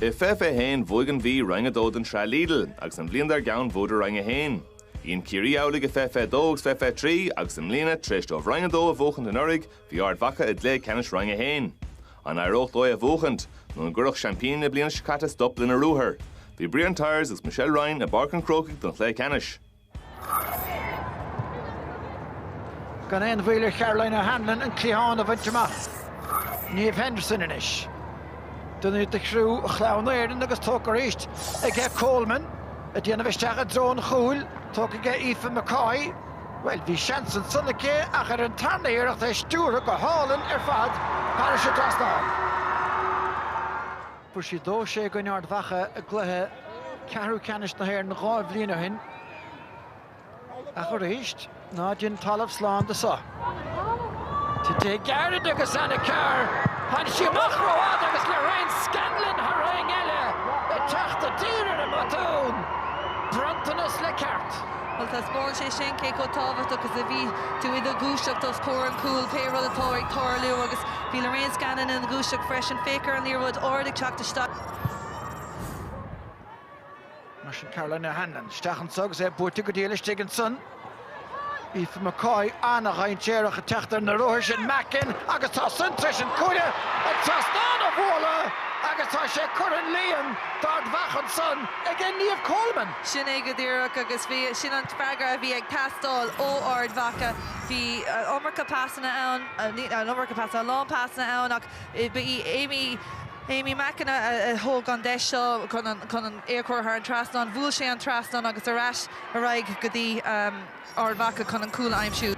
I 2021, bhuaigh an Mhí Roinn 2 den Sraith Lidl, agus an bhliain dár gcionn bhuadar Roinn 1. Dhein Ciarraí amhlaidh i 2022 agus 2023, agus i mbliana, tar éis dóibh Roinn 2 a bhuachaint anuraidh, bhí Ard Mhacha i gcluiche ceannais Roinn 1. An éireodh dóibh a bhuachaint, nó an gcuirfeadh seaimpíní na bliana seo caite stop lena ruathar? Bhí Brian Tyers agus Michelle Ryan i bPáirc an Chrócaigh don chluiche ceannais. Gan aon mhoill ar Charoline O'Hanlon an cliathán a bhaint amach. Niamh Henderson anois. Duine de chriú Chlann Éireann agus tógtha arís aige Coleman ag déanamh isteach i dtreo an chúil. Tógtha aige Aoife McCoy. Bhuel, bhí seans ansan aici ach ar an tarna hiarracht é stiúrtha go hálainn ar fad thairis an trasnán. Fuair sí dó sé i gcoinne Ard Mhacha i gcluiche ceathrú ceannais na hÉireann dhá bhliain ó shin ach arís ná déan talamh slán de seo. Tite gairid agus Anna Carr tháinig sí amach rófhada agus Lorraine Scanlon thar éinne eile ag teacht i dtír ar an mbotún, bronntanas le ceart. Bhuel, taispeánann sé sin cé chomh tábhachtach is a bhí tú i do dhúiseacht os comhair an chúil, pé rud atá ag tarlú agus. Bhí Lorraine Scanlon ina dhúiseacht freisin, féach ar an liathróid ard ag teacht isteach. Mar sin Caroline O'Hanlon isteach anseo agus é buailte go dtí í laistigh ansan. Aoife McCoy an-dhainséarach ag teacht ar na ruathair sin. Mackin agus tá san tar éis an cuaille, an trasnán a bhualadh agus tá sé curtha 'on líon d'Ard Mhacha ansan ag Niamh Coleman. Sin é go díreach agus bhí, sin an freagra a bhí ag teastáil ó Ard Mhacha. Bhí an iomarca pasanna ann. an iomarca pasanna, a lán pasanna ann ach ba í Aimee, Aimee Mackin a thóg an deis seo chun an é a chur thar an trasnán, bhuail sé an trasnán agus ar ais ar aghaidh go dtí Ard Mhacha chun an cúl a aimsiú.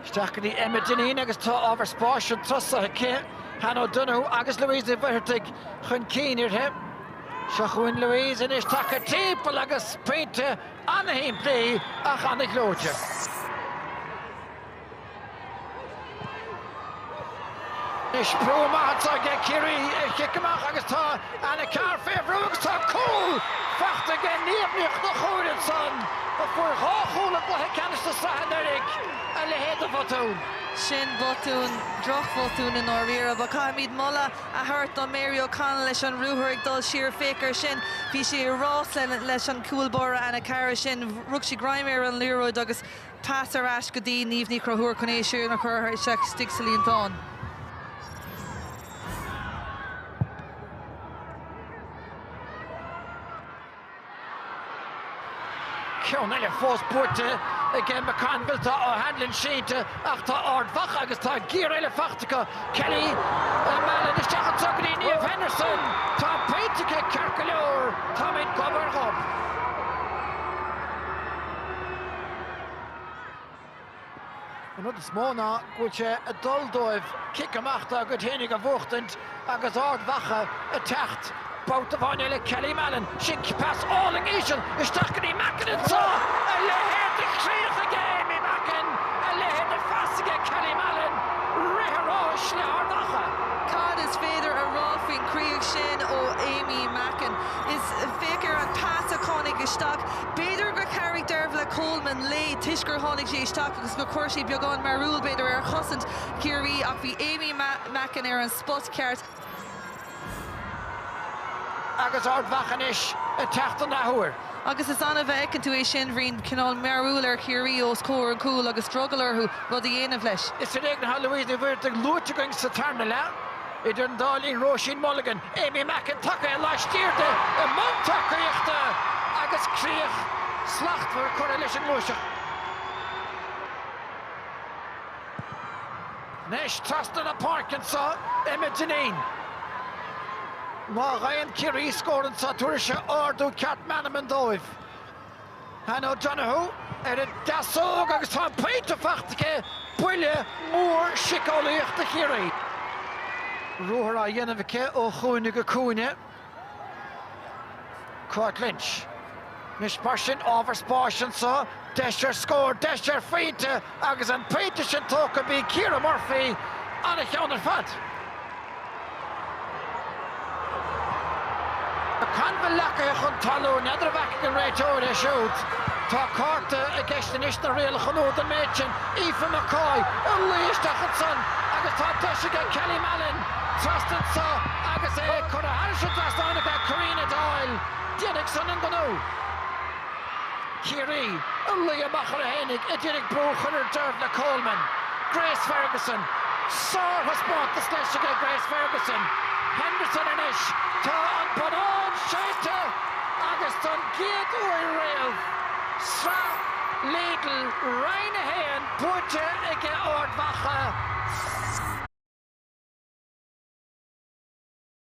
Isteach go dtí Emma Dineen agus tá ábhar spáis ann, tosaithe aici, Hannah O'Donoghue agus Louise Ní Mhuircheartaigh chun cinn uirthi. Seo chugainn Louise anois, tagtha timpeall agus pointe! Ana-shimplí ach ana-ghleoite. Anois brú maith anseo aige Ciarraí ar chic amach agus tá Anna Carr fé bhrú agus tá cúl faighte aige Niamh Ní Chonchúir ansan a fuair dhá chúl i gcluiche ceannais na sraithe anuraidh. A leithéid de bhotún. Sin botún, drochbhotún i ndáiríre. Ach caithfimid moladh a thabhairt do Mary O'Connell leis an ruathar ag dul siar, féach air sin. Bhí sí i rás leis an gcúl báire Anna Carr ansin rug sí greim ar an liathróid agus pas ar ais go dtí Niamh Ní Chonchúir chun é sin a chur isteach istigh sa líontán. Ceann eile fós buaite aige McConville. Tá O'Hanlon sínte ach tá Ard Mhacha agus tá giar eile faighte acu. Kelly Mallon isteach anseo go dtí Niamh Henderson. Tá an pointe aici ceart go leor. Táimid gob ar ghob. An rud is mó ná go bhfuil sé ag dul dóibh cic amach dá gcuid fhéinig a bhuachtaint agus Ard Mhacha ag teacht babhta amháin eile, Kelly Mallon, sin pas álainn íseal isteach go dtí Mackin anseo! A leithéid de chríoch aige Aimee Mackin! A leithéid de phas aige Kelly Mallon! Rith an ráis le hArd Mhacha. Cad is féidir a rá faoin gcríoch sin ó Aimee Mackin? Is féach ar an pas a tháinig isteach. B'fhéidir gur chabhraigh Dearbhla Coleman léi toisc gur tháinig sí isteach agus gur chuir sí beagán mearúil, b'fhéidir, ar chosaint Chiarraí ach bhí Aimee Mackin ar an spot ceart. Agus Ard Mhacha anois ag teacht an athuair. Agus is annamh a fheiceann tú é sin, bíonn cineál mearúil ar Chiarraí os comhair an chúil agus drogall orthu rud a dhéanamh leis. Is ar éigean atá Louise Ní Mhuircheartaigh luaite againn sa tarna leath. Idir an dá linn, Róisín Mulligan, Aimee Mackin tagaithe laistiar di i mbun tacaíochta agus críoch slachtmhar curtha leis an ngluaiseacht. Anois trasna na páirce anseo, Emma Dineen. Má gheibheann Ciarraí scór anseo tabharfaidh sé ardú ceart meanman dóibh. Hannah O'Donoghue ar an deasóg agus tá an pointe faighte aici, buille mór siceolaíoch do Chiarraí. Ruathar á dhéanamh aici ó chúinne go cúinne. Cáit Lynch, Anois mar sin, ábhar spáis anseo, deis ar scór, deis ar phointe! Agus an pointe sin tógtha b'í Ciara Murphy ana-cheann ar fad. McConville leagaithe chun talún, n'fheadar a bhfeicfidh an réiteoir é siúd. Tá cárta i gceist anois na rialacha nua don méid sin. Aoife McCoy ag luí isteach ansan agus tá deis aige Kelly Mallon trasna anso agus é curtha thairis an trasnán aige Corinna Doyle déanfaidh san an gnó. Ciarraí, ag luí amach orthu fhéinig a d'iarraidh brú a chur ar Dearbhla Coleman, Grace Ferguson. Sárthaispeántas leis aige Grace Ferguson, Henderson anois. Tá an bonnán séidte agus don gcéad uair riamh, Sraith Lidl Roinn 1 buaite aige Ard Mhacha.